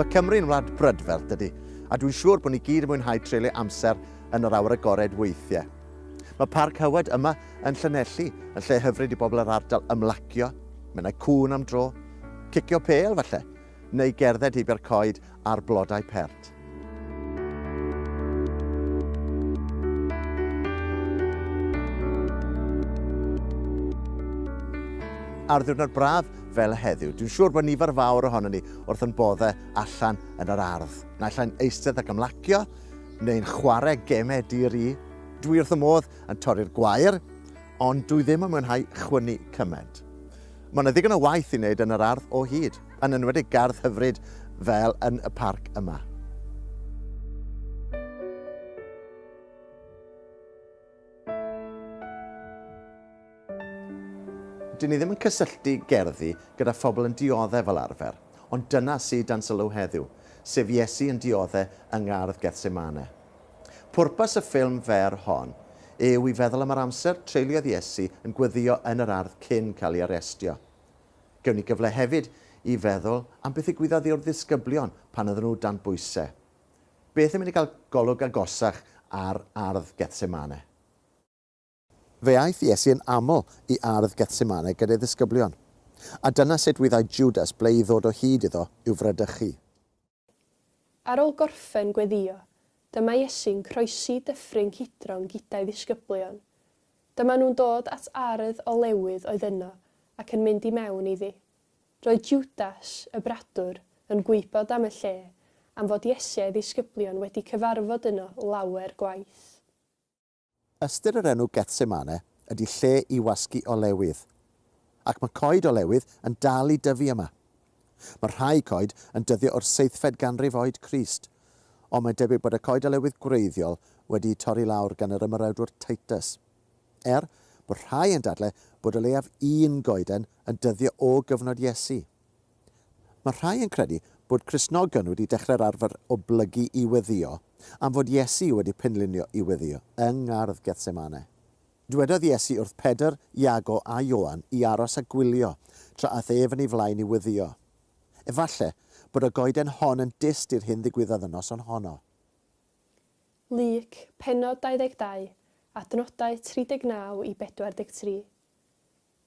Mae Cymru'n wlad brydferth dydy, a dwi'n siŵr bod ni gyd yn mwynhau treulio amser yn yr awyr agored weithiau. Mae Parc Hywed yma Yn Llanelli, yn lle hyfryd i bobl yr ardal ymlacio, menai cŵn am dro, cicio pêl falle, neu gerdded heibio'r coed a'r blodau pert. ar ddiwrnod braf fel y heddiw. Dwi'n siŵr bod nifer fawr ohono ni wrth yn boddau allan yn yr ardd. Naill ai'n eistedd ac ymlacio, neu'n chwarae gemau dir i. Dwi wrth y modd yn torri'r gwair, ond dwi ddim yn mwynhau chwynnu cymaint. Mae yna ddigon o waith i wneud yn yr ardd o hyd, yn enwedig gardd hyfryd fel yn y parc yma. Dyn ni ddim yn cysylltu gerddi gyda phobl yn dioddau fel arfer, ond dyna sydd dan sylw heddiw, sef Iesu yn dioddau yng ngardd Gethsemane. Pwrpas y ffilm fer hon yw i feddwl am yr amser treuliodd Iesu yn gweddïo yn yr ardd cyn cael ei arestio. Gewn ni gyfle hefyd i feddwl am beth ddigwyddodd i'r ddisgyblion pan oedden nhw dan bwysau. Beth yn mynd i gael golwg agosach ar ardd Gethsemane? Fe aeth Iesu yn aml i ardd Gethsemane gyda'i ddisgyblion, a dyna sut wyddai Jwdas ble i ddod o hyd iddo i'w fradychu. Ar ôl gorffen gweddïo, dyma Iesu'n croesi Dyffryn Cydron gyda'i ddisgyblion. Dyma nhw'n dod at ardd olewydd oedd yno ac yn mynd i mewn iddi. Roedd Jwdas, y bradwr, yn gwybod am y lle, am fod Iesu a'i ddisgyblion wedi cyfarfod yno lawer gwaith. Ystyr yr enw Gethsemane ydy lle i wasgu olewydd. Ac mae coed olewydd yn dal i dyfu yma. Mae rhai coed yn dyddio o'r seithfed ganrif oed Crist, ond mae'n debyg bod y coed olewydd gwreiddiol wedi'u torri lawr gan yr ymerawdwr Titus. Er, bod rhai yn dadle bod o leiaf un goeden yn dyddio o gyfnod Iesu. Mae rhai yn credu bod Cristnogion wedi dechrau'r arfer o blygu i weddïo am fod Iesu wedi penlinio i weddïo yng ngardd Gethsemane. Dywedodd Iesu wrth Pedr, Iago a Ioan i aros a gwylio tra aeth ef yn ei flaen i weddïo. Efallai bod y goeden hon yn dyst i'r hyn ddigwyddodd y noson honno. Luc, pennod 22, adnodau 39 i 43.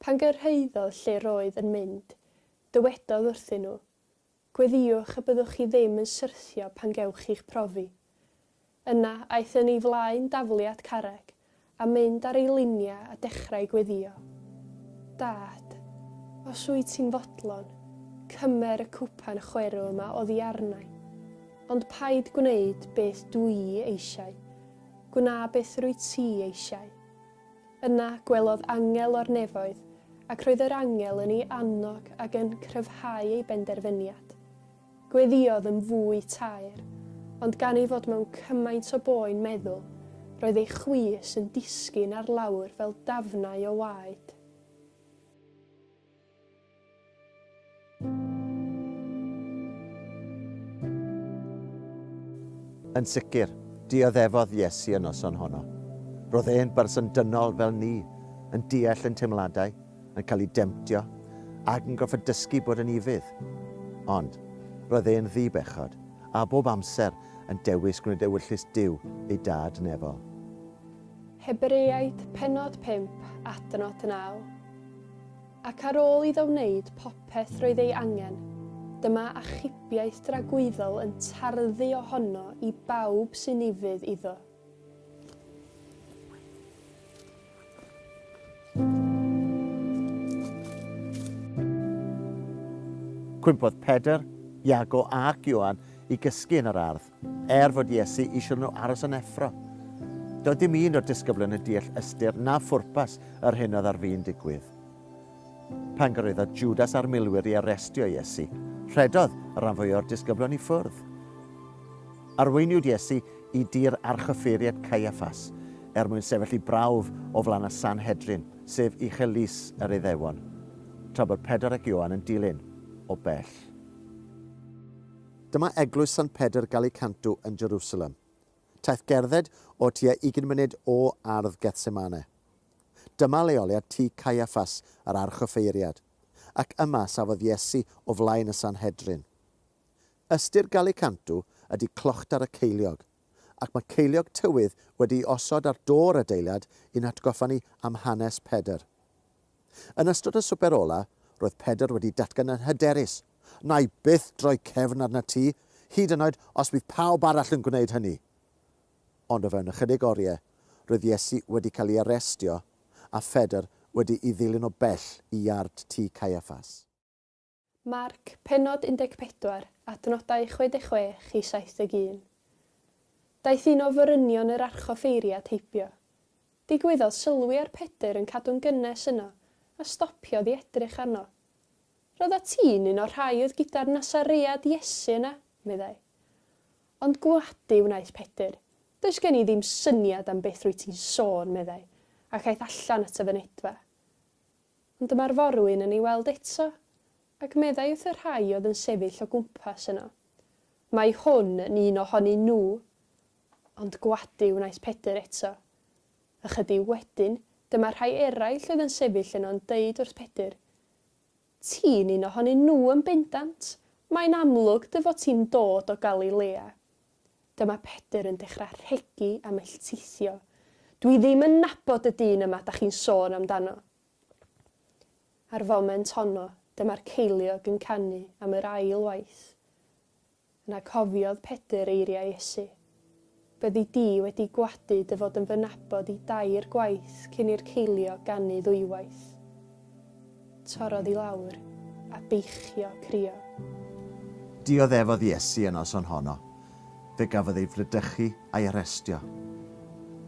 Pan gyrhaeddodd lle'r oedd yn mynd, dywedodd wrthyn nhw, Gweddïwch y byddwch chi ddim yn syrthio pan gewch chi'ch profi. Yna, aeth yn ei flaen daflu at carreg, a mynd ar ei luniau a dechrau gweddïo, Dad, os wyt ti'n fodlon, cymer y cwpan chwerw yma oddi arnai. Ond paid gwneud beth dw i eisiau, gwna beth rwyt ti eisiau. Yna gwelodd angel o'r nefoedd, ac roedd yr angel yn ei annog ac yn cryfhau ei benderfyniad. Gweddïodd yn fwy taer, ond gan ei fod mewn cymaint o boen meddwl, roedd ei chwys yn disgyn ar lawr fel dafnau o waed. Yn sicr, dioddefodd Iesu y noson honno. Roedd e'n berson dynol fel ni, yn deall ein teimladau, yn cael ei demtio, ac yn gorfod dysgu bod yn ufudd. Ond, roedd e'n ddi-bechod, a bob amser yn dewis gwneud ewyllys Duw, ei Dad nefol. Hebreaid, pennod 5, adnod 9. Ac ar ôl iddo wneud popeth roedd ei angen, dyma achubiaeth dragwyddol yn tarddu ohono i bawb sy'n ufudd iddo. Cwympodd Pedr, Iago ac Ioan i gysgu yn yr ardd. Er fod Iesu eisiau nhw aros yn effro, doedd dim un o'r disgyblion yn deall ystyr na phwrpas yr hyn oedd ar fin digwydd. Pan gyrhaeddodd Jwdas a'r milwyr i arestio Iesu, rhedodd y rhan fwyaf o'r disgyblion i ffwrdd. Arweiniwyd Iesu i dir archyffeiriad Caiaffas er mwyn sefyll i brawf o flaen y Sanhedrin, sef uchel lys yr Iddewon, tra bod Pedr ac Ioan yn dilyn o bell. Dyma eglwys Sant Pedr Galicantu yn Jerusalem. Taith gerdded o tua ugain munud o ardd Gethsemane. Dyma leoliad tŷ Caiaffas, yr archoffeiriad, ac yma safodd Iesu o flaen y Sanhedrin. Ystyr Galicantu ydy clochtar y ceiliog, ac mae ceiliog tywydd wedi'i osod ar do'r adeilad i'n hatgoffa ni am hanes Pedr. Yn ystod y swper ola, roedd Pedr wedi datgan yn hyderus, Wna i byth droi cefn arnat ti, hyd yn oed os bydd pawb arall yn gwneud hynny! Ond o fewn ychydig oriau, roedd Iesu wedi cael ei arestio a Phedr wedi'i ddilyn o bell i iard tŷ Caiaffas. Marc, pennod 14, adnodau 66 i 71. Daeth un o forynion yr archoffeiri at heibio. Digwyddodd sylwi ar Pedr yn cadw'n gynnes yno, a stopiodd i edrych arno. Roeddat ti'n un o'r rhai oedd gyda'r Nasaread Iesu yna, meddai. Ond gwadu wnaeth Pedr, Does gen i ddim syniad am beth rwyt ti'n sôn, meddai, ac aeth allan at y fynedfa. Ond dyma'r forwyn yn ei weld eto, ac meddai wrth y rhai oedd yn sefyll o gwmpas yno, Mae hwn yn un o honyn nhw! Ond gwadu wnaeth Pedr eto. Ychydig wedyn, dyma rhai eraill oedd yn sefyll yno'n deud wrth Pedr, Ti'n un o honyn nhw yn bendant! Mae'n amlwg dy fod ti'n dod o Galilea. Dyma Pedr yn dechra rhegi a melltithio, Dwi ddim yn nabod y dyn yma 'da chi'n sôn amdano. A'r foment honno, dyma'r ceiliog yn canu am yr ail waith. Yna cofiodd Pedr eiriau Iesu, Byddi di wedi gwadu dy fod yn fy nabod i dair gwaith cyn i'r ceiliog ganu ddwywaith. Torrodd i lawr, a beichio crio. Dioddefodd Iesu y noson honno. Fe gafodd ei fradychu a'i arestio.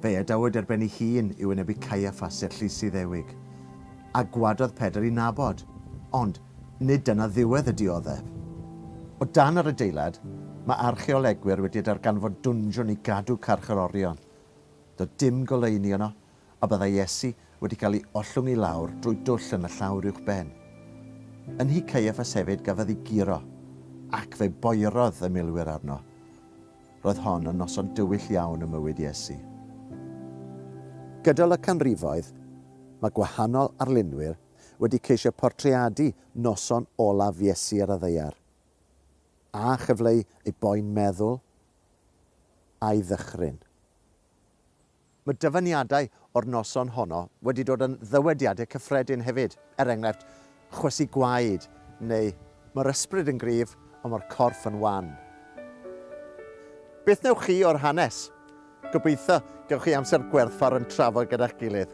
Fe'i adawyd ar ben ei hun i wynebu Caiaffas, Sir Llys Iddewig. A gwadodd Pedr i nabod. Ond, nid dyna ddiwedd y dioddef. O dan yr adeilad, mae archeolegwyr wedi darganfod dwnsiwn i gadw carcharorion. Doedd dim goleuni yno, a byddai Iesu wedi cael ei ollwng i lawr drwy dwll yn y llawr uwch ben. Yn nhŷ Caiaffas hefyd gafodd ei guro, ac fe boerodd y milwyr arno. Roedd hon yn noson dywyll iawn ym mywyd Iesu. Gydol y canrifoedd, mae gwahanol arlunwyr wedi ceisio portreadu noson olaf Iesu ar y ddaear, a chyfleu ei boen meddwl a'i ddychryn. Mae dyfyniadau o'r noson honno wedi dod yn ddywediadau cyffredin hefyd, er enghraifft, chwysu gwaed neu mae'r ysbryd yn gryf ond mae'r corff yn wan. Beth wnewch chi o'r hanes? Gobeithio gewch chi amser gwerthfawr yn trafod gyda'ch gilydd.